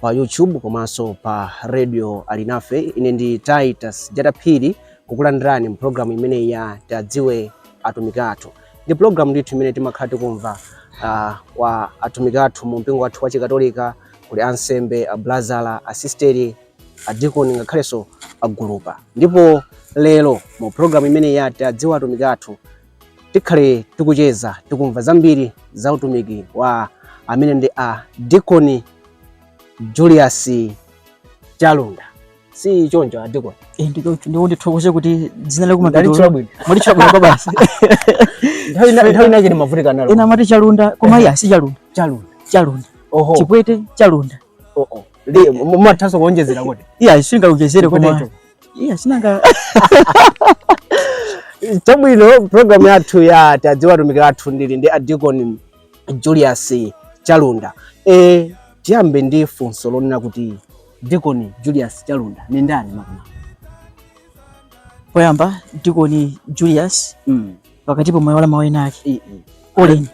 pa YouTube komanso pa radio Alinafe. Ine ndi Titus Jataphiri kukulandirani mu programu imeneyi ya Tiwadziwe Atumiki Athu. Ndi programu ndithu imene timakhala tikumva uh, kwa atumiki athu mu mpingo wathu wa Chikatolika, kuli ansembe, ablazala, asisteri, adikoni ngakhalenso agulupa. Ndipo lero mu programu imeneyi ya Tiwadziwe Atumiki Athu tikhale tikucheza tikumva zambiri za utumiki wa amene ndi a Dikoni Julius Chalunda si choncho a Dikoni nchoncho ndipo ndithokoze kuti dzinalo mwalitchula bwino kwabasi nthawi inache ndimavutika nalo ena amati Chalunda koma iya si Chalunda Chalunda Chalunda oho Chipwete Chalunda oh oh mumathanso kuonjezera kuti iya singaonjezere koma iya sinanga chabwino program yathu ya tiwadziwe atumiki athu ndili ndi adikoni julius chalunda e, tiyambe ndi funso lonena kuti dikoni julius chalunda ndi ndani makamaka poyamba dikoni julius mm. pakatipo mwaiwala mawu enaake Eh, eh. Colin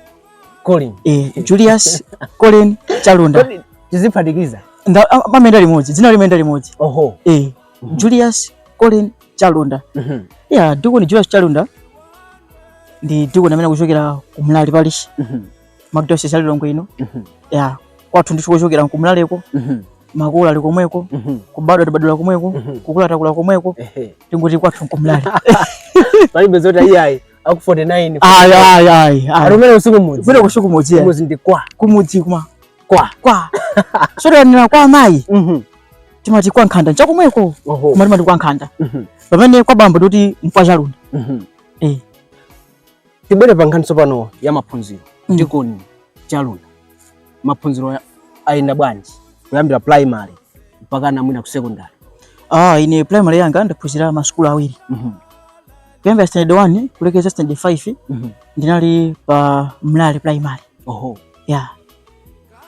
Colin. eh, Julius Colin Chalunda Kodi tiziphatikiza. Nda- a- amayenda limodzi dzina limayenda limodzi Oho. eh, Mhm. Julius Colin Chalunda Mhm. ya dikoni Julius Chalunda ndi dikoni amene akuchokera ku Mlale parish Mhm. mu archdiocese ya Lilongwe ino mhm. ya kwathu ndithu kochokera nkumlaleko mhm. makolo ali komweko mhm. kubadwa tabadira komweko kukula takula komweko tingoti kwathu nkumlale palibe zoti ayiayi aku 49 ayi ayi ayi arumene usiku mudzi bwino kushuku mudzi ya mudzi ndikwa kumudzi kuma kwa kwa sori anira kwa mai timati kwa nkhanda nchakomweko koma timati kwa nkhanda pamene kwa bambo timati nkwa chalunda eh tibwere pa nkhani tsopano ya maphunziro mm. Dikoni Chalunda, maphunziro ayenda bwanji kuyambira primary mpakana mwina ku secondary? Ah, ine primary yanga ndaphunzira masukulu awiri mm -hmm. kuyambira standard 1 kulekeza standard 5 mm -hmm. ndinali pa Mlale primary. Oho. Yeah.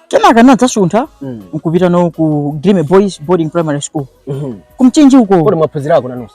Kenaka nadzasuntha mm. nkupitano ku Guilleme Boys Boarding Primary School mm -hmm. kumchinji uko. Kodi mwaphunzirako nanunso?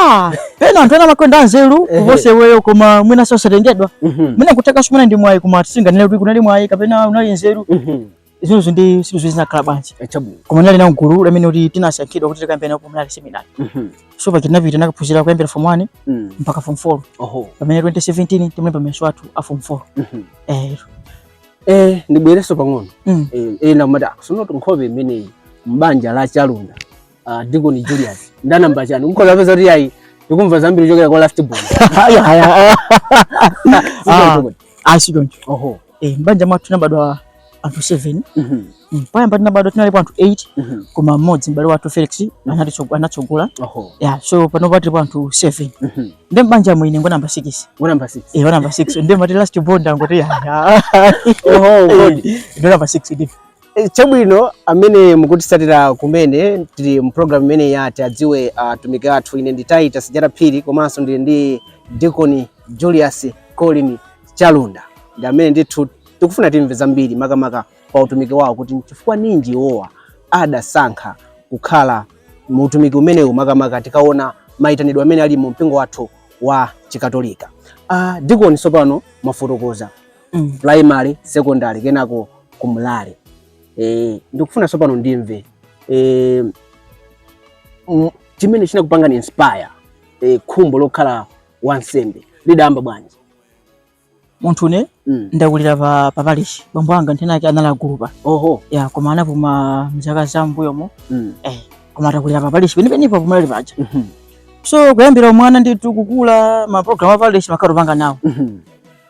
Ah, pena anthu ena amakhala anzeru Ehe. kuposa iweyo koma mwina sosatengedwa Mhm. mwina kuthekanso mwina ndi mwayi koma sitinganene kuti kunali mwayi kapena unali nzeru Mhm. izinso ndi sizo zinakhala bwanji Eh, chabwino koma ndinali nawo mgulu la amene kuti tinasankhidwa kuti tikayambireno ku mlale seminari Mhm. so paja tinapita nakaphunzira kuyambira form 1 Mm. mpaka form 4 oho pamene 2017 tinalemba mayeso athu a form 4 Mhm. eh eh ndibwerenso pang'ono mm. eh, ena mati akusonoto nkhope imeneyi mbanja la chalunda Ah, Deacon Julius. Ndi namba chani. Mukhoza kupeza kuti ayi ndikumva zambiri kuchokera kwa last born. Ayi, ayi, ayi. Ah, ah, si choncho. Oho. Eh, m'banja mwathu tinabadwa anthu 7 Mhm. Mm, poyamba tinabadwa tinalipo anthu 8 Mhm. koma mmodzi m'bale wathu felix anatitso- anatsogola Oho. ya so panopa tilipo anthu 7 Mhm. ndi m'banja mwine ngo namba 6 Wa number 6. eh, wa namba 6 ndimati last born ndangoti yaya Oho, God. ndo namba 6 ndi Eh, chabwino amene mukutisatira kumene tili mu program imene ya Tiadziwe Atumiki Athu ine ndi Titus Jata Phiri komanso ndili ndi dikoni Julius Colin Chalunda ndi amene ndithu tikufuna timve zambiri makamaka pa utumiki wawo kuti nchifukwa ninji iwowa adasankha kukhala mu utumiki umenewu makamaka tikaona mayitanidwe amene ali mu mpingo wathu wa chikatolika uh, dikoni sopano mwafotokoza mm. primary secondary kenako ku Mlale e, ndikufuna sopano ndimve e, chimene chinakupangani inspire e, khumbo lokhala wansembe lidayamba bwanji munthune mm. ndakulira pa pa parish bambo anga nthawi ina yake anali agulupa oho ya koma anapuma mzaka za mbuyomo mm. eh koma atakulira pa parish penipeni pa ku Mlale paja mm -hmm. so kuyambira umwana ndithu kukula ma program a parish timakhala tikupanga nawo mm -hmm.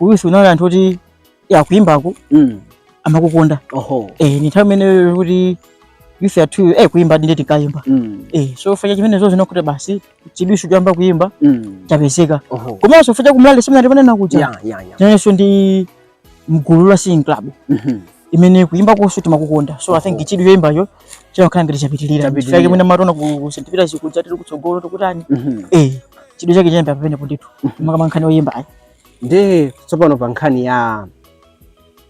uyuso unali anthu oti a kuimbaku mm. amakukonda oho eh ndi nthawi imene kuti youth yathu eh kuimba ndine tikayimba mm. eh so chifukwa cha zimenezozo zinakuti basi chidwiso chayamba kuimba mm. chapezeka oho komanso chifukwa ku Mlale seminary ndimanena kuja yeah yeah yeah inenso ndi mgulu la singing club mm -hmm. imene kuimbakoso timakukonda so i think chidwi choimbacho chinakhala ngati chapitirira chifukwa mwina mumationa ku St. Peter's kuja tiri kutsogolo tikutani mm -hmm. eh chidwi chake chinayamba pamenepo ndithu mm -hmm. makamaka nkhani oyimbayi Nde tsopano pa nkhani ya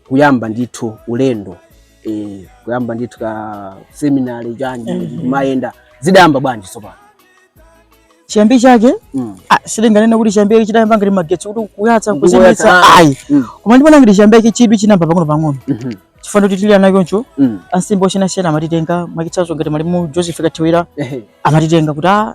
kuyamba ndithu ulendo eh, kuyamba ndithu ka seminary chanji Mhm. kumayenda zidayamba bwanji tsopano chiyambi chake mm. ah, sindinganene kuti chiyambi chake chidayamba ngati magetsi kuti kuyatsa Kungoyatsa, kuzimitsa ah. ayi Mm. koma ndikuona ngati chiyambi chake chidwi chinayamba pang'ono pang'ono Mhm. chifukwa kuti tili ana choncho Mm. ansembe osiyanasiyana amatitenga mwachitsanzo ngati malemu Joseph Kathiwira Ehe. amatitenga kuti ah,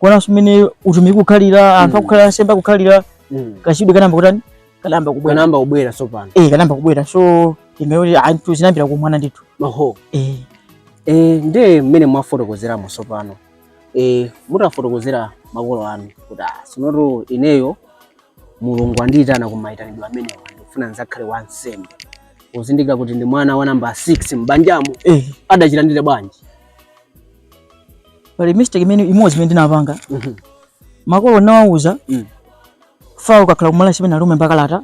kuonanso mmene utumiki ukukhalira anthu Mm. akukhalira ansembe akukhalira Mm. kachidwi kanayamba kutani kanayamba kubwera Kanayamba kubwera tsopano. eh kanayamba kubwera so tinganene kuti zinayambira kumwana ndithu Oho. eh Eh, ndiye mmene mwafotokozeramo tsopano. Eh, mutafotokozera makolo anu kuti ah, tsonotu ineyo Mulungu andiyitana ku mayitanidwe amenewa ndikufuna ndidzakhale wansembe. Kuzindikira kuti ndi mwana wa namba 6 m'banjamo eh adachilandira bwanji? pali mistake imene imodzi imene ndinapanga mhm. makolo nawauza mm. Father akakhala ku minor seminary umalemba kalata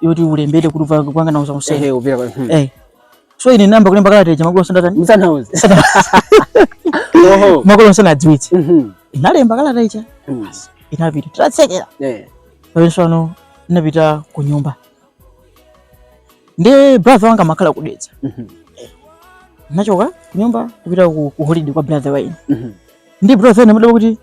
yoti ulembere kuti kupanga nawo za usembe mhm. eh. so ine ndinayamba kulemba kalata ija makolo sandatani msanauze makolo sanadziwitse mhm. ndinalemba kalata ija mm. inapita tatsekera eh. pamene tsopano inapita ku nyumba Ndiye brother wanga amakhala ku Dedza. Mhm. Ndinachoka kunyumba kupita ku, ku holiday kwa brother ine. Mhm. Ndiye brother anadabwa kuti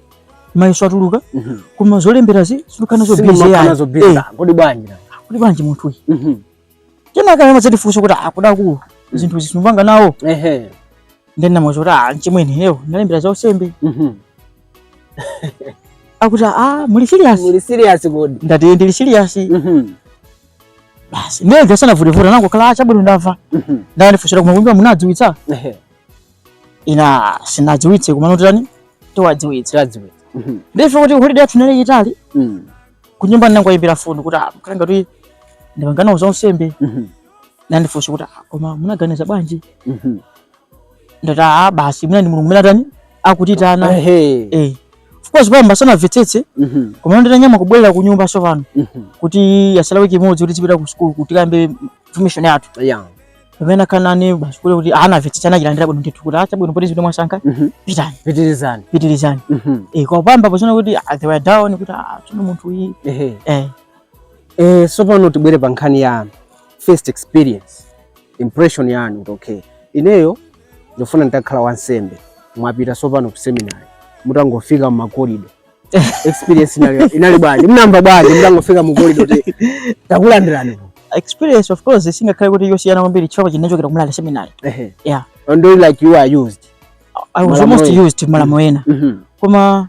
mayeso atuluka Mhm. koma zolemberazi simukhala nazo busy Simumakhala yani. nazo busy. Eh, Kodi bwanji na? kuti bwanji munthu uyu. Mhm. Kenaka amadzandifunsa kuti akuda kuti zinthu izi sumapanga nawo. Ehe. Ndiye ndinamuuza kuti ah, mchimwene lero ndalembera za usembe. Mhm. Akuti ah, muli serious? Muli serious kodi? Ndati ndili serious. Mhm. Basi ndiye ndio sanavutevute anangoti kaya chabwino ndamva. Mhm. Ndiye anandifunsa kunyumba munadziwitsa. Ehe. Ine sindinadziwitse komano tani? Tiwadziwitse. Tiwadziwitse. Mhm. Ndiye futi holiday yathu inali yaitali. Mhm. Kunyumba ndinangowayimbira foni kuti ah, makolo anga tu ndipanga nawo za usembe. Mhm. anandifunsa kuti ah, koma munaganiza bwanji mhm. ndati a ah, basi mwina ndi mulungu amene atani akutiyitana eh. of course poyamba sanamvetsetse mhm. koma nditanyamuka kubwerera ku nyumba sopano mhm. kuti yatsala wiki imodzi kuti tipite ku sukulu kuti tikayambe formation yathu pamene anakanena basi kule kuti anamvetsetse anachilandira bwino ndithu kuti ah, chabwino poti ndi zimene mwasankha pitani pitirizani pitirizani eh, koma poyamba paonetsa kuti they were down kuti tsono munthu uyu eh. eh, sopano tibwere pa nkhani ya first experience impression yanu kuti okay ineyo ndifuna nditakhala wansembe mwapita sopano ku seminary mutangofika mmakorido experience inali inali bwanji munamva bwanji mutangofika mukorido kuti takulandirani ku experience of course singakhale kuti yosiyana kwambiri chifukwa ndinachokera ku minor seminary ehe yeah ndiye like you are used i was Malamulo almost ena. used malamulo ena Mhm. koma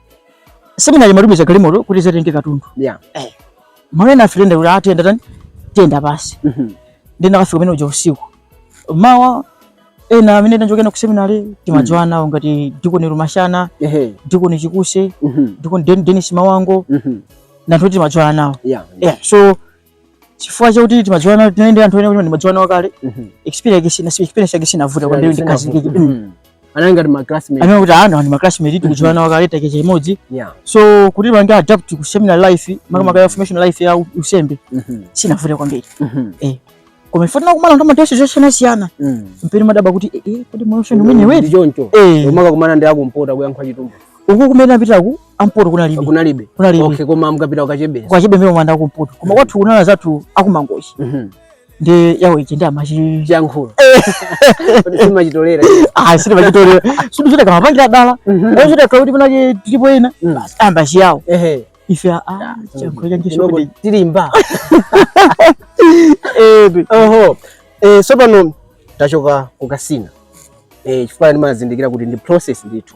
Seminary imatumiza galimoto kuti idzatenge katundu. Yeah. Eh. Mwina ena afuna ayende kuti ayenda tani? Ayenda pansi. Mhm. Mm Ndiye tinakafika mmene muja usiku. Mawa ena amene tinachokera ku seminary timadziwana nawo ngati Dikoni Rumashana, ehe, Dikoni Chikuse, mm -hmm. Dikoni Dennis Mawango, mm -hmm. ndi anthu oti timadziwana nawo. Yeah, yeah. Yeah. So chifukwa chakuti timadziwana tinali ndi anthu ena kuti ndimadziwana nawo kale Mhm. experience sina si experience yake sinavuta kwambiri ndikhazikike Mhm. Anali ngati ma classmates. anena kuti anali maclassmate tikudziwana nawo kale take chimodzi Yeah. so kuti ndipange adapt ku seminary life makamaka ya formation life ya u- usembe Mhm. sinavuta kwambiri Mhm. koma ife timakumana ndi matest zosiyanasiyana Mhm. penapake ndimadabwa kuti eh, eh, kodi moyo wake ndi umenewu Ndi choncho. eh Umakumana ndi akumpoto akuyankhula Chitumbuka. uku kumene apitaku ampoto ku Kachebere kunalibe kunalibe okay koma amkapita ku Kachebere Kachebere mmalo mopita ku mpoto koma kwathu kunali anzathu aku Mangochi mm -hmm. Chiyao ichi ndiye chiyankhulo kuti sima chitolera ah sima chitolera sikuti amapangira dala wewe chita kwa kuti panali ena mm. basi ayamba Chiyao ehe ife a ah, chiyankhulo cha English tilimba eh oho eh tsopano tachoka ku Kasina eh chifukwa ndimazindikira kuti ndi process ndithu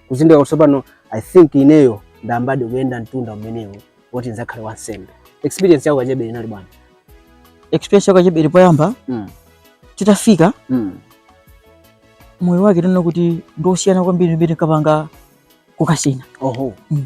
kuzindikira kuti tsopano i think ineyo ndayambadi kuyenda mtunda umenewu woti ndidzakhale wansembe experience ya ku Kachebere inali bwanji experience ya ku Kachebere poyamba mm. titafika mm. moyo wake tinaona kuti ndi wosiyana kwambiri ndi mmene tinkapangira ku Kasina oho mm.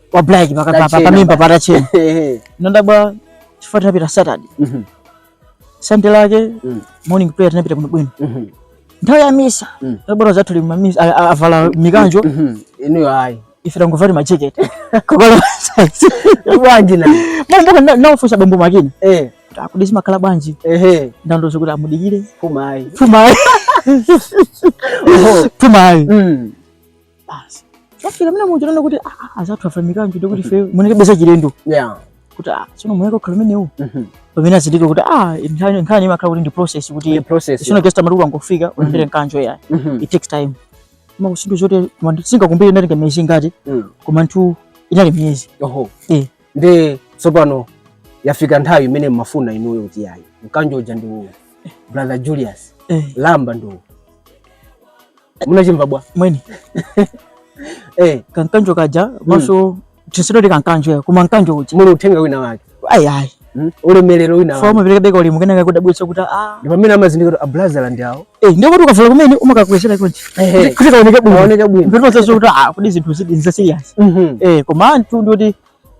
wa black pakati pa Patachena. pamimba patachena Ehe. nandabwa chifukwa tinapita saturday Mhm. sande lake Mm. morning prayer tinapita bwinobwino Mhm. nthawi ya misa Mm. tabwera anzathu ku misa a- a- avala mikanjo Mhm. Inuyo ayi. ife tangovali majeketi koma Bwanji mpaka ndinawafunsa Bambo Makina Eh. kuti zimakhala bwanji Ehe. anandiuza kuti mudikire Puma ayi. pfumayi pfumayi Mm. basi tafika mna munjira na kuti ah, ah, ah anzathu avala mikanjo ndiye kuti ife timaonekabe za chilendo yeah kuti ah sino munike khala mene u mhm. pamene nazindikira kuti ah nkhani nkhani imakhala kuti ndi process kuti process si not just kuti ukangofika mhm. ulandire mkanjo ya mhm. it takes time koma kusintha zonse koma sindingakumbukire inali miezi ingati mm. koma ndithu inali miezi oho eh ndi tsopano yafika nthawi imene mumafuna inuyo kuti yayi mkanjo uja ndi uwu brother Julius eh. lamba ndi uwu munachimva bwanji eh kamkanjo kaja hmm. mwina tisati kamkanjo koma mkanjo uja muli uthenga wina wake ayi ayi hmm? ulemelero wina umapereka ulemu kenaka kudabwitsa kuti a ah. ndi pamene amazindikira a brother ndi awo eh ndiye kuti ukavula kumene umakakwezera kuja kuti kaoneke bwino kaoneke bwino ndipo sasa kuti a ah, kodi zinthu izi ndi za serious mhm. eh koma anthu ndi kuti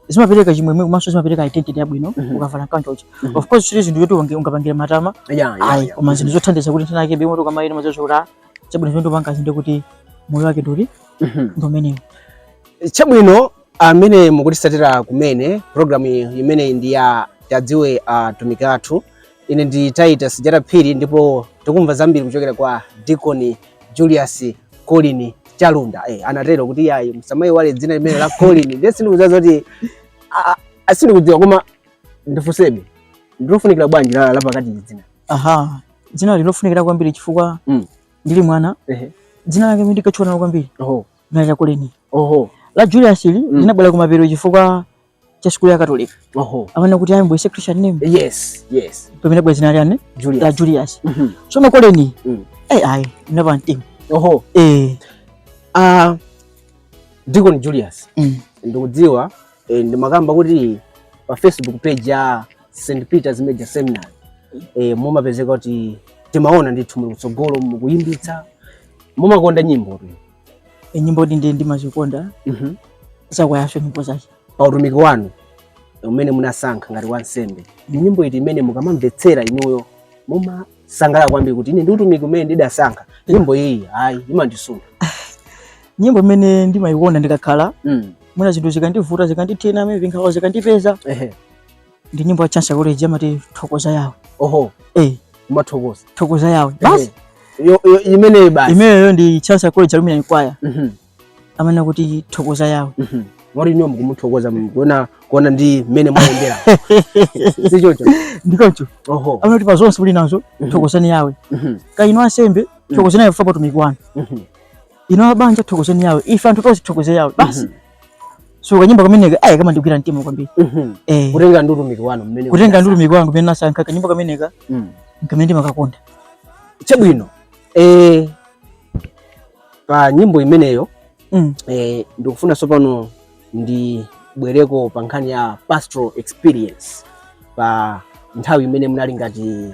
zimapereka chimwemwe komanso zimapereka identity yabwino mhm. ukavala mkanjo uja mhm. of course si chinthu choti ungapangire matama ayi koma chinthu chothandiza kuti nthina yake bimoto kama ino mazochokera chabwino chimene ndikupanga uzindikire kuti moyo wake ndi uti mhm. ndi umenewo chabwino amene mukutitsatira kumene programu imeneyi ndi ya tadziwe atumiki athu Ine ndi Titus Jara Phiri ndipo tikumva zambiri kuchokera kwa Deacon Julius Colin Chalunda. Eh, anatero kuti yayi musamaiwale dzina limeneli la Colin. Ndiye sindikudziwa zoti a- a- a- sindikudziwa koma ndifunsebe. Ndilofunikira bwanji la la pakati ili dzina? aha dzina ili ndilofunikira kwambiri chifukwa Mm. ndili mwana Ehe. dzina limene ndinkatchuka nalo kwambiri Oho. dzina la Colin Oho. la Julius ili linabwera kumapeto chifukwa cha sukulu ya katolika oho amanena kuti ayambenso christian name yes yes pamene bwezi nali dzina la julius Mhm. so akoleni Mm. eh ayi ndinaupha mtima oho eh ah deacon julius mm. ndikudziwa eh, ndimakamba kuti pa facebook page ya st peters major seminary eh, mumapezeka kuti timaona ndithu muli kutsogolo mukuyimbitsa mumakonda nyimbo tu E, nyimbo ndi ndi ndimazikonda Mhm. zakwayaso nyimbo zake pa utumiki wanu umene munasankha ngati wansembe ndi nyimbo iti imene mukamamvetsera inuyo mumasangalala kwambiri kuti ine ndi utumiki umene ndidasankha nyimbo iyi ayi imandisunga nyimbo imene ndimayikonda ndikakhala mm. mwina zinthu zikandivuta zikandithina mwina nkhawa zikandipeza ehe ndi nyimbo ya chancellor college yamati thokoza yawe oho eh umathokoza thokoza yawe basi Yo- yo- imeneyi basi imeneyo ndi chancellor college alumni kwaya Mhm, amanena kuti thokoza yawe mhm. moti inuyo mukumuthokoza mu- kuona kuona ndi mmene mwayendera si choncho ndikoncho oho amanena kuti pa zonse muli nazo Mhm. thokozani yawe Mhm, kaya inu ansembe thokozani yawe chifukwa pa utumiki wanu mhm. inu abanja thokozani yawe ife anthu tonse tithokoze yawe basi so kanyimbo kameneka ayi kamandigwira mtima kwambiri mhm. eh. kutengera ndi utumiki wanu mmene kutengera ndi utumiki wanga umene nasankha kanyimbo kameneka mm. nkamene ndimakakonda chabwino eh, pa nyimbo imeneyo mm. eh, ndikufuna tsopano ndibwereko pa nkhani ya pastoral experience pa nthawi imene munali ngati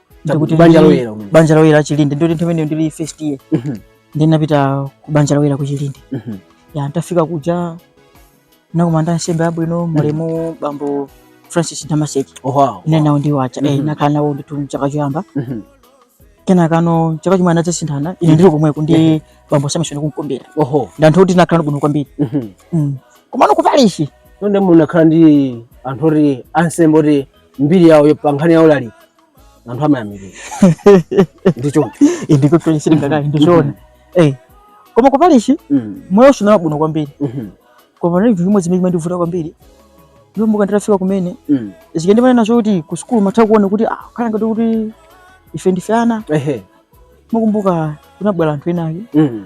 Ndikuti banja ndili- loyera kumene. banja loyera la chilinde ndikuti nthawi imeneyo ndili first year Mhm, ndi ndinapita ku banja loyera ku chilinde mhm. ya ntafika kuja nakumana ndi ansembe abwino aulemu bambo francis damaseke Oh, wow. ine nawo ndiwo aja eh, Mhm. nakhala nawo ndithu mchaka choyamba Mhm. kenakano chaka chimwe anadzasinthana ine ndili komweko ndi bambo samson kumkumbira Oho. ndi anthu oti nakhala bwino kwambiri Mhm. Mm. komano kupalishi Nonde munakhala ndi anthu oti ansembe oti mbiri yawo yo- pa nkhani ya ulaliki anthu amayamikira ndicho indiko toyesera ngati ndi zoona eh koma kupalishi Mm, moyo unali bwino kwambiri mhm, koma chinali chimodzi chimene chimandivuta kwambiri ndikumbuka nditafika kumene mm, zikandimana nacho kuti ku sukulu umatha kuona kuti ah zikhala ngati kuti ife ndife ana ehe, ndikumbuka kunabwera anthu enaake mm,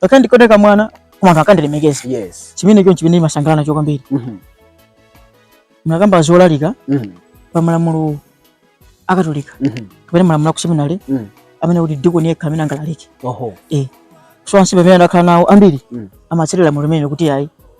Ngakhale ndikuoneka mwana koma anthu akandilemekeza. Yes. Chimene choncho chimene ndimasangalala nacho kwambiri. Mhm. Munakamba zolalika Mhm. pa malamulo akatolika Mhm. kapena malamulo a ku seminary Mhm. amanena kuti dikoni yekha amene angalalike. Oho. Eh. So ansembe amene ndakhala nawo ambiri Mm. amatsatira lamulo limenelo kuti ayi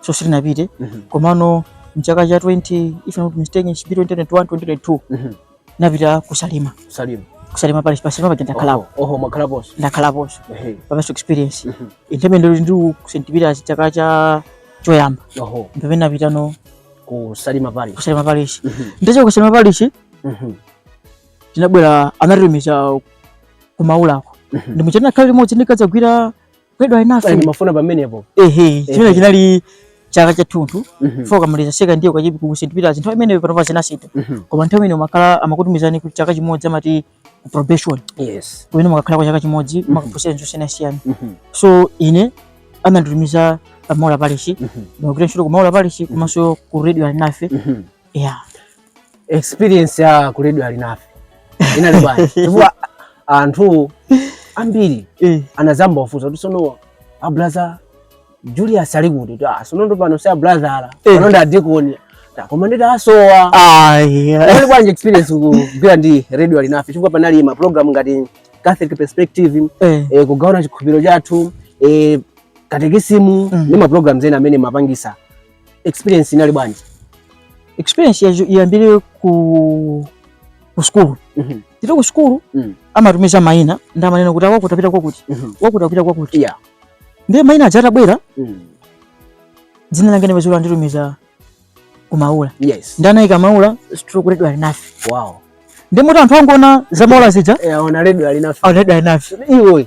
so sitinapite Mhm. komano mchaka cha 20 if I'm not mistaken should be 2021 2022 Mhm. ndinapita ku Salima Salima. ku Salima parish pa Salima paja ndakhalapo Oho, oho munakhalaponso. ndakhalaponso Ehe. pa pastoral experience Mhm. nthawi imene ndili ndi ku St Peters chaka cha choyamba Oho, mpamene ndinapitano ku Salima parish. ku Salima parish Mhm. ndachoka ku Salima parish Mhm. tinabwera anatitumiza ku Maulako Mhm. ndi muja tinakhala limodzi ndikadzagwira ku Radio Alinafe ndimafuna pamenepo ehe chimene chinali chaka chathunthu mhm. chifukwa ukamaliza second year kachipi ku St Peters nthawi imene panopa zinasintha mhm. koma nthawi imene makhala amakutumizani kuti chaka chimodzi amati ku probation yes kumene mumakakhala kwa chaka chimodzi mhm. mumakaphunzira ntchito zosiyanasiyana so ine ananditumiza pa Maula Parish ndikugwira ntchito ku Maula Parish komanso ku Radio Alinafe Yeah. Experience ya ku Radio Alinafe inali bwanji chifukwa anthu ambiri eh. anadzayamba kufunsa kuti sono a Brother Julius ali kuti kuti ah sono ndiye pano si a Brother ala eh. pano ndi adikoni koma ndithu asowa inali bwanji experience kugwira ndi Radio Alinafe chifukwa panali ma program ngati Catholic Perspective eh. Eh, kugawana chikhulupiriro chathu eh, katekisimu mm. ndi ma programs ena amene mumapangitsa experience inali bwanji experience ndiyambire ku ku school mm -hmm. tili ku school mm. amatumiza maina ndi amanena kuti wakuti apita kwakuti mm -hmm. wakuti apita kwakuti yeah. ndiye maina aja atabwera mm. dzina langa ndinapeza anditumiza ku Maula yes. ndi anaika Maula stroke Radio Alinafe wow. ndi muti anthu angoona za Maula zija yeah, aona Radio Alinafe aona Radio Alinafe iwe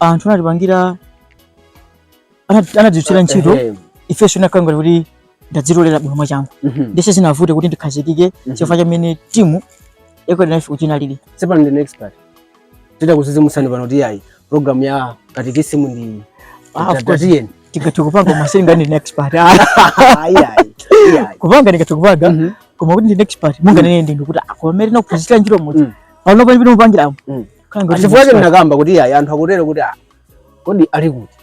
anthu anatipangira anat- anatidzutira ntchito Ehe. ifenso inakhala ngati kuti ndadzitolera bwino mwachangu Mhm. ndiye sizinavute kuti ndikhazikike chifukwa cha mmene timu ya ku Radio Alinafe kuti inalili Sepa ndine expert. Titakudzidzimutsani pano kuti ayi program ya katekisimu ndi Ah, of course. Tatiyen. tikati kupanga masinga ndine expert Ayi ayi. Ayi. kupanga ndikati kupanga Mhm. koma kuti ndine expert munganene ndinu kuti akomere nakuphunzira ntchito mudzi Mm. pano pali pino mupangiramo Mm. chifukwa chake ndinakamba kuti ayi anthu akutero kuti ah, kodi ali kuti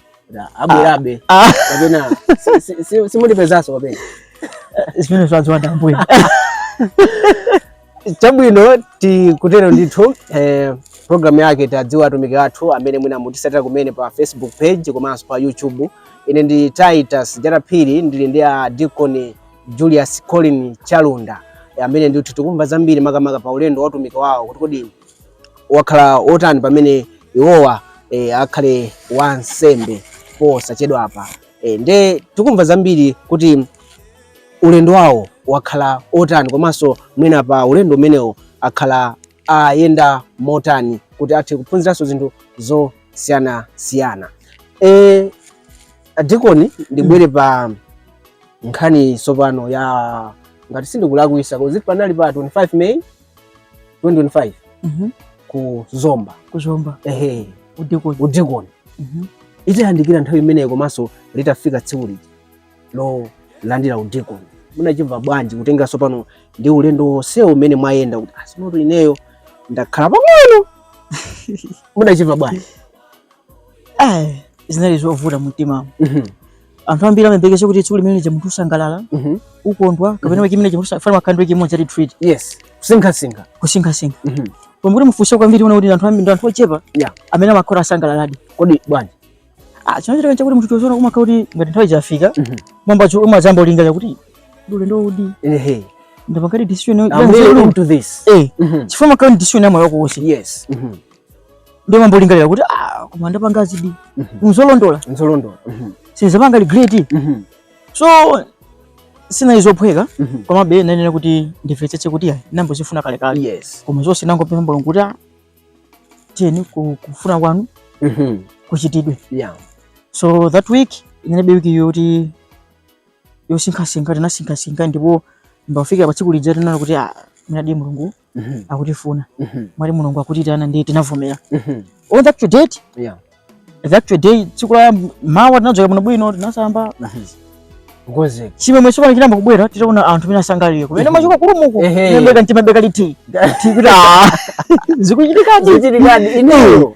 abwerabe ah. ah. kapena simutipezanso kapena eh, zimene zwaziwanda mbuyo chabwino tikutero ndithu eh, programu yake tadziwa atumiki athu amene mwina mukutitsatira kumene pa Facebook page komanso pa YouTube. Ine ndi Titus Jata Phiri ndili ndi a Deacon Julius Colin Chalunda amene ndithu tikumva zambiri makamaka pa ulendo wa utumiki wawo kuti kodi wakhala wotani pamene iwowa e, akhale wansembe posachedwa apa e, nde tikumva zambiri kuti ulendo wawo wakhala otani komanso mwina pa ulendo umenewo akhala ayenda motani kuti athe kuphunziranso zinthu zosiyana siyana. E, adikoni ndibwere pa nkhani tsopano ya ngati sindikulakwitsa kuti panali pa 25 May 2025 Mhm. ku zomba kuzomba ehe udikoni udikoni Mhm. itayandikira nthawi imeneyo komanso litafika tsiku lija lolandira udikoni munachimva bwanji kutengera tsopano ndi ulendo wonsewo umene mwayenda kuti asimoto ineyo ndakhala pang'ono munachimva bwanji Eh, zinali zovuta mumtima Mhm. anthu ambiri amayembekeza kuti tsiku limene lija munthu usangalala mhm. ukondwa kapena mhm. week imene imene ija timakhala ndi week imodzi ya retreat yes kusinkhasinkha kusinkhasinkha mhm. koma mukati mufunse kwambiri muona kuti anthu ambiri ndi anthu ochepa amene amakhala asangalaladi kodi bwanji ah chimachitika chakuti munthu tiozona umakhala kuti ngati nthawi chafika mwamba cho umadzayamba kulingalira kuti kodi ulendo uwudi ehe ndapangadi decision ya nzeru to this eh chifukwa imakhala decision ya moyo wako wonse yes Ndiye umayamba kulingalira kuti ah koma ndapangazidi. Mhm. Nzolondola. Nzolondola. Mhm. Sindidzapanga regret. Mhm. So sizinali zophweka komabe ndinanena kuti ndimvetsetse kuti ya ndinayamba kuzifuna kale kale. Yes. Koma zonse ndinangopempha Mulungu kuti ah, tiyeni kufuna kwanu. Mhm. Kuchitidwe. Yeah. So that week inali wiki yoti yosinkhasinkha tinasinkhasinkha ndipo mpaka kufika pa tsiku lija tinali kuti ah, mwinadi Mulungu mhm. akutifuna mhm. mwinadi mulungu akutitana ndiye tinavomera mhm. on the actual date yeah. the actual day tsiku la mawa tinadzuka bwino bwino tinasamba kukonzeka chimwemwe tsopano chinayamba kubwera titaona anthu mmene asangalalira kumene kumachoka kuli mmoku ndimapeza ndimapeza reality kuti ah, zikuchitikadi ineyo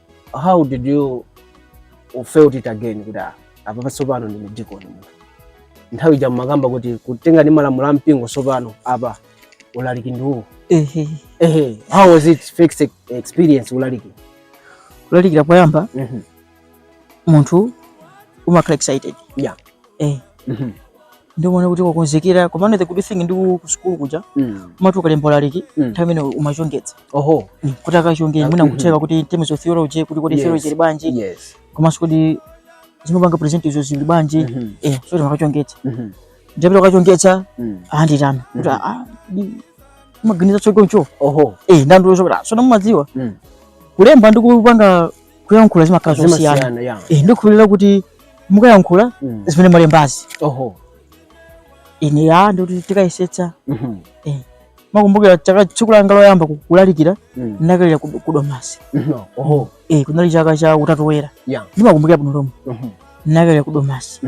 how did you felt it again kuti ah, apa patsopano ndine dikoni munthu nthawi ija mumakamba kuti kutengera ndi malamulo a mpingo tsopano apa ulaliki ndi uwu ehe ehe how was it first experience ulaliki kulalikira poyamba Mhm. munthu umakhala excited Yeah. eh Mhm. ndiye umaona kuti wakonzekera komano the good thing ndi ku ku sukulu kuja Mm. umati ukalemba ulaliki Mm. nthawi imene umachongetsa Oho. Mm, kuti akachonge mwina Mhm. kucheka kuti in terms of theology kuti kodi Yes. theology ili bwanji Yes. komanso kuti zimene wapanga present-zo zili bwanji Mhm. eh so timakachongetsa Mhm. ndapita kukachongetsa Mm. anditana kuti Mhm. ah di- umaganiza chokoncho Oho. eh ndiye anandilongosolera sono mumadziwa Mm. kulemba ndi kupanga kuyankhula zimakhala zosiyana Zimasiyana, yeah. eh ndikukhulupirira kuti mukayankhula mm. zimene mwalembazi oho ine ya ndikuti tikayesetsa mhm. eh, makumbukira chaka tsiku langa loyamba kulalikira mm. ndinakalalikira ku domasi mhm. oho eh, kunali chaka cha utatu woyera yeah. ndimakumbukira bwino lomwe mhm. ndinakalalikira ku domasi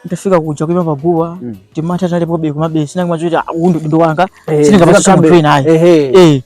ndafika kuja kuima paguwa mm. timantha tinalipobe komabe ndinangomva zoti ah, uwu ndi udindo wanga eh, sindingapatse munthu wina ayi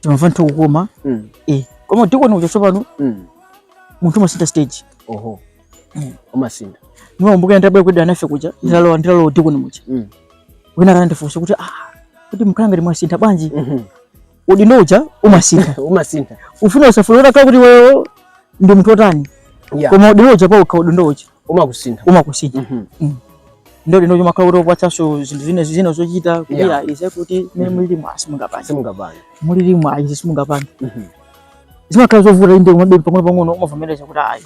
timamva ndithu kukoma Mm. eh koma udikoni uja tsopano Mm. munthu umasintha stage Oho. Mm. Umasintha. ndimakumbuka ndabwe kudya nafe kuja nditalowa nditalowa udikoni muja Mm. wina wake anandifunsa kuti ah kuti mukhala ngati mwasintha bwanji Mhm. udindo uja umasintha Umasintha. ufune usafune utakhala kuti iweyo ndi munthu otani Yeah. koma udindo uja pawokha udindo uja umakusintha umakusintha mm -hmm. mm. ndiye udindo uja umakhala kuti ukupatsanso zinthu zina zina zochita kuti yeah. izi kuti mene mhm. mulilimo simungapange simungapange mulilimo ayi izi simungapange mm -hmm. zimakhala zovuta inde komabe pang'ono pang'ono umavomereza kuti ayi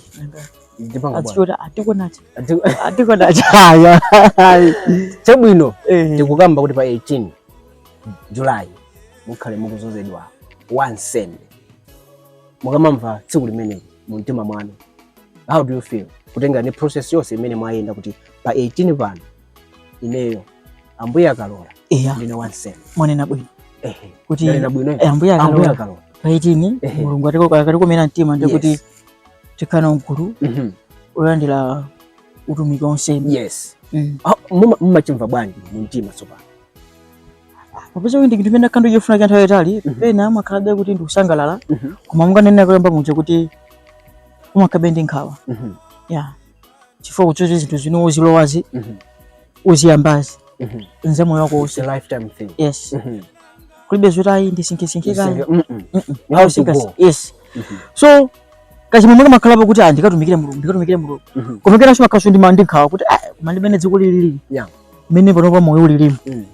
chabwino eh. tikukamba kuti pa 18 Julai mukhale mukudzozedwa wansembe mukamamva tsiku limeneli mu mtima mwanu how do you feel kutengera ndi process yonse imene mwayenda kuti pa 18 pano ineyo ambuye akalola eya ndine wansembe mwanena bwino ehe kuti ndanena bwino eh, ambuye ambuye akalola akalola pa 18 Ehe. mulungu atiko- akatikomera mtima ndi Yes. kuti tikhale nawo mgulu Mhm. olandira utumiki wansembe yes Mm. Ah, muma- mumachimva bwanji mu mtima tsopano popeza kuti ndi chinthu chimene wakhala ukuchifuna kwa nthawi yaitali mhm. pena umakhalabe kuti ndikusangalala mhm. koma monga nanenera kuyamba muja kuti umakhalabe ndi nkhawa mhm. ya chifukwa cha zoti zinthu zimene ukuzilowazi ukuziyambazi ndi za moyo wako wonse yes kulibe zoti ayi ndisinkhesinkhe kaye yes so kachimwemwe kamakhalapo kuti ah, ndikatumikire mulungu ndikatumikire mulungu koma penanso umakhalanso ndi man- ndi nkhawa kuti ah, koma ndimene dziko lilili mmene panopa moyo ulilimu mm.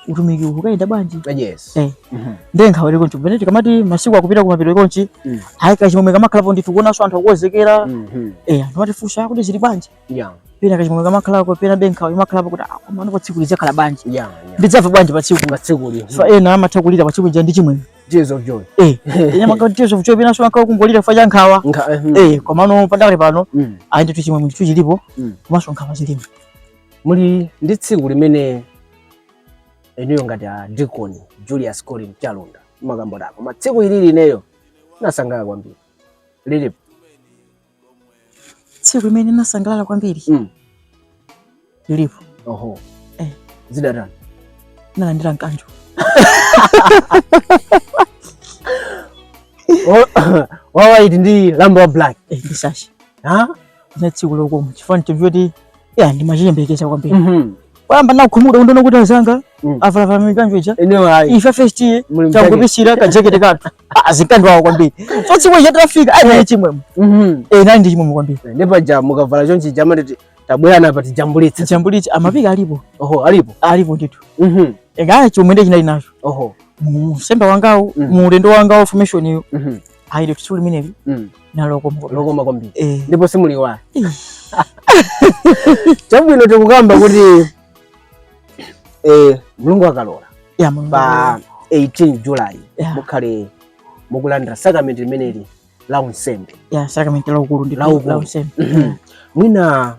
utumiki ukayenda bwanji ah, yes. eh. mm -hmm. nde nkhawa ili chonchi pamene tikamati masiku akupita kumapeto chonchi mm. ayi kachimwemwe kamakhalapo ndithu kuonanso anthu akukonzekera mm -hmm. eh, anthu amatifunsa kuti zili bwanji yeah pena kachimwemwe kamakhalako penabe nkhawa imakhalako ah komano tsiku lidzakhala bwanji yeah, yeah. ndidzamva bwanji pa tsiku pa tsikuli so ena amatha kulira pa tsiku ndi chimwemwe tears of joy eh ena amakhala tears of joy penanso amakhala akungolira chifukwa cha nkhawa eh, hmm. eh komano pakadali pano mm. ayi ndithu chimwemwe chilipo mm. komanso nkhawa zilipo muli ndi tsiku limene inuyo ngati a dikoni julius colin chalunda mumakamba kuti koma tsiku ilili ineyo nasangalala kwambiri lilipo tsiku limene nasangalala kwambiri Mm. lilipo oho Eh. zidatani nalandira mkanjo wawaiti ndi lamba wa black eh, ndi sash ha za tsiku lokoma chifukwa nchoti ya ndimachiyembekeza kwambiri Mhm. poyamba ndakhumudwa kuona kuti anzanga Mm. avala mikanjo ija Eneo hai. ife first Muli mtake. tangopisira kajekete kathu azikandiwawo kwambiri so tsiku ija tafika ayi naye chimwemwe Mhm. eh nali ndi chimwemwe kwambiri Ndipo ja mukavala chonchi jama nditi tabwera apa tijambulitse. chambulitsi ma pic alipo Oho, alipo. alipo ndithu Mhm. engaye chomwe ndi chinali nacho Oho. mu unsembe wangawo Mhm. mu ulendo wangawo formation iyo Mhm. ayi ndi tsiku limeneli mm. linali lokoma kwambiri eh. ndipo simuliiwala chabwino tikukamba kuti eh, mulungu akalola yeah, pa 18 July yeah. mukhale mukulandira sakramenti limeneli la unsembe yeah, sakramenti la ukulu ndi la unsembe mm-hmm. mwina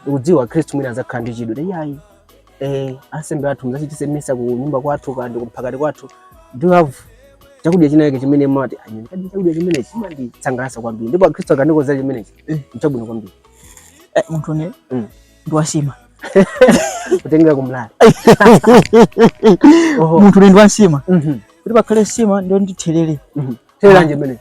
kudziwa akhristu mwina azakhala ndi chidwi yayi eh, ansembe athu muzachitise misa ku nyumba kwathu kandi kuphakati kwathu do you have chakudya chinachake chimene mumati chimenechidi chakudya chimene chimandisangalatsa kwambiri ndipo akhristu akandikonzera chimenechi eh. nchabwino kwambiri eh, munthune mm. ndi wansima kutengera kumlala munthune ndi wansima mhm. kuti pakhale nsima ndiwo ndi therere mhm. therere limene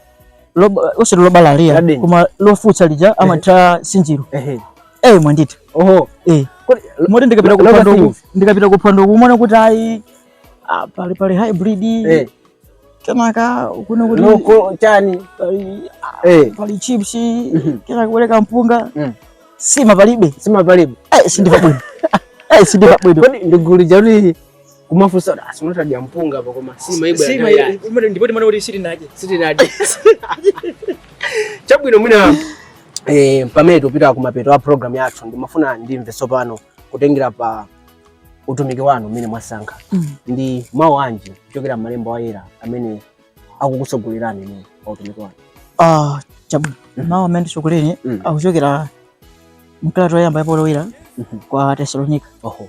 loba ose loba la ria koma lofutsa lija amathira nsinjiro ehe eh mwanditha oho eh moti ndikapita kuphwando uku ndikapita kuphwando uku umaona kuti ayi ah, pali pali hybrid eh kenaka kuno kuti coco chani ah, eh pali chips mhm. kenaka kubwera mpunga mm. nsima palibe nsima palibe eh sindimva bwino eh sindimva bwino kodi ndigulija kuti kumafunsa kuti basi utadya mpunga apa koma nsima ibwere Si mai- ya umene ndipo timanena kuti sitinadye. sitinadye chabwino mwina eh, pamene tikupita kumapeto a program yathu ndimafuna ndimve tsopano kutengera pa utumiki wanu umene mwasankha Mm. ndi mawu anji kuchokera m'malembo ayera amene akukutsogolerani inu pa utumiki wanu Ah, chabwino. Mhm. Mawu amene anditsogolere Mm. akuchokera mkalata yoyamba ya Paulo Woyera Mhm. kwa Atesalonika. oho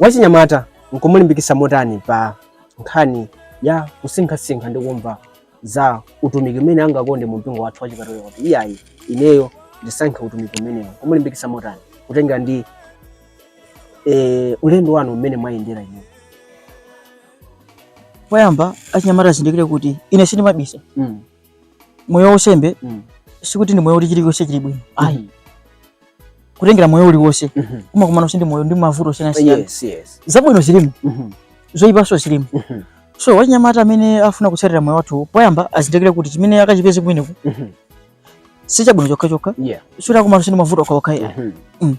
wachinyamata nkumulimbikitsa motani pa nkhani ya kusinkhasinkha ndi kumva za utumiki umene angakonde mu mpingo wathu wachikatolika kuti iyayi ineyo ndisankhe utumiki umenewo kumulimbikitsa motani kutengera ndi e, ulendo wanu umene mwayendera inu poyamba achinyamata azindikire kuti ine sindimabisa mm. moyo waunsembe mm. sikuti ndi moyo uli chilichonse chili bwino ayi mm -hmm. kutengera moyo uliwonse mm -hmm. umakumana ndi moyo ndi mavuto osiyanasiyana yes, yes. zabwino zilimo mm -hmm. zoyipanso zilimo mm -hmm. so wachinyamata amene afuna kutsatira moyo wathu poyamba azindikire kuti chimene akachipeze kumeneko mm -hmm. si chabwino chokhachokha yeah. sikuti akumana ndi mavuto okhaokha mm -hmm. mm.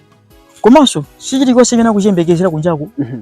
komanso si chilichonse chimene akuchiyembekezera kunjaku mm -hmm.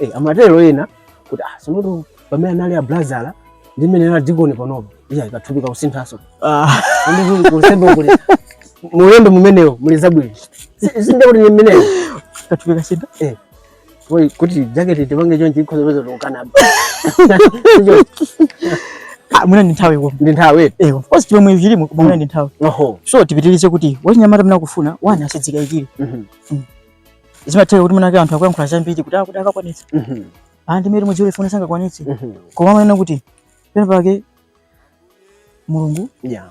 Eh, amatero ena kuti ah, simutu pamene anali a brother ndi mmene anali dikoni panopo iyayi kathupi kakusinthaso Ah, Ndi kusembe kuti mulendo mumenewo muli zabwino Si- sindiye kuti ni mmenewo kathupi kasintha Eh, koi kuti jaketi tipange chonchi ikhoza peza tikukanaba Ah, mwina ndi nthawi kuno ndi nthawi eti eh of course chilomwe chilimo koma mwina ndi nthawi oho so tipitirize kuti wachinyamata amene akufuna wani asadzikayikire Mhm. Mm. zimatheka kuti mwinake anthu akuyankhula zambiri kuti akuti akakwanitsa mhm. anthu imene mudziwe ifuna sangakwanitse mhm. koma amanena kuti pena pake mulungu yeah.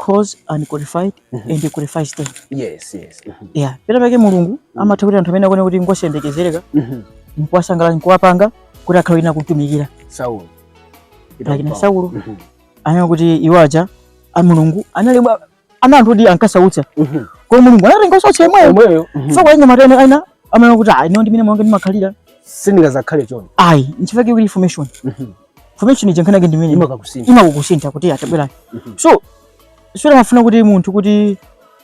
calls the unqualified mm -hmm. and qualifies them yes yes mm -hmm. yeah pena pake mulungu mm -hmm. amatha kuti anthu amene akuona kuti ngosayembekezereka mm -hmm. nkuwasankha nkuwapanga kuti akhale ina kutumikira saulo lakini saulo mm -hmm. anena kuti iwaja a mulungu anali ana anthu oti ankasautsa mhm. koma mulungu anatenga wosautsa yemweyo yemweyo mhm. so kwa anyamata ena amene kuti ayi ndiwo ndimene mwange ndimakhalira sindingazakhale chonchi ayi nchifukwa chake formation mhm. formation ija nkhanake ndimene imakukusintha imakukusintha kuti atabwera so sikuti amafuna kuti munthu kuti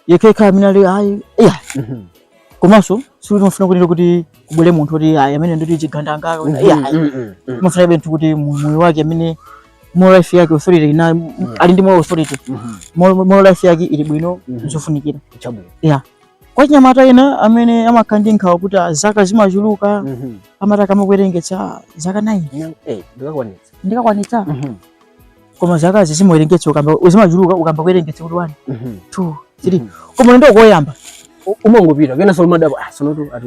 yekeka amene ali ayi iya komanso sikuti amafuna kuti kuti kubwere munthu kuti ayi amene ndoti chigandanga iya amafunabe munthu kuti moyo wake amene moral life yake authority ina mm. ali ndi moral authority mm -hmm. moral life yake ili bwino mm -hmm. zofunikira chabwino yeah kwa achinyamata ena amene amakhala ndi nkhawa kuti ah, zaka zimachuluka mm -hmm. amati akayamba kuwerengetsa ah, zaka 9 yeah, hey, ndikakwanitsa ndikakwanitsa mm -hmm. koma zaka sitimawerengetsa ukayamba zimachuluka ukayamba kuwerengetsa kuti 1 2 3 koma ulendo ukayamba umangopita kenaso umadabwa ah sonoto ati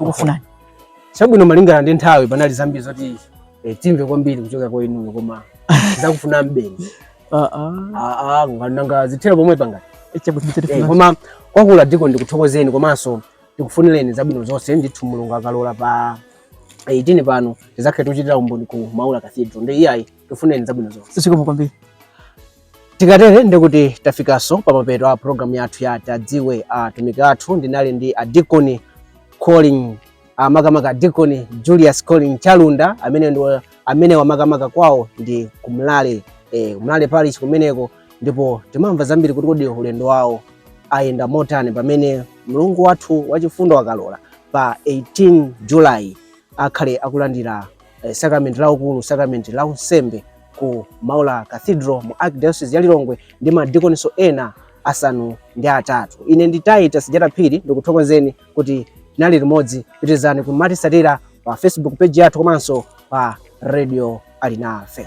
ukufunani chabwino malingana ndi nthawi panali zambiri zoti eh, timve kwambiri kuchokera kwa inuyo koma tizakufunanibe ah, ah. ah, nanga zithera pomwepa ngati eh, eh, koma kwakukulu dikoni ndikuthokozeni komanso ndikufunireni zabwino zonse ndithu mulungu akalola pa 18 pano tizakhale tikuchitira umboni ku maula cathedral ndiye ayi tikufunireni zabwino zonse zikomo kwambiri tikatere ndikuti tafikanso pamapeto a programu yathu ya tadziwe atumiki athu ndinali ndi adikoni collin uh, makamaka adikoni julius collin chalunda amene ndiwo amene wamakamaka kwawo ndi kumlale eh, kumlale parish kumeneko ndipo timamva zambiri kuti kodi ulendo wawo ayenda motani pamene mlungu wathu wachifundo akalola pa 18 july akhale akulandira eh, sakramenti la ukulu, sakramenti la unsembe ku Maula Cathedral mu Archdiocese ya Lilongwe ndi madikoniso ena asanu ndi atatu. Ine ndi Titus Jata Phiri ndikuthokozeni kuti tinali limodzi. Pitirizani kumatisatira pa Facebook page yathu komanso pa Radio Alinafe.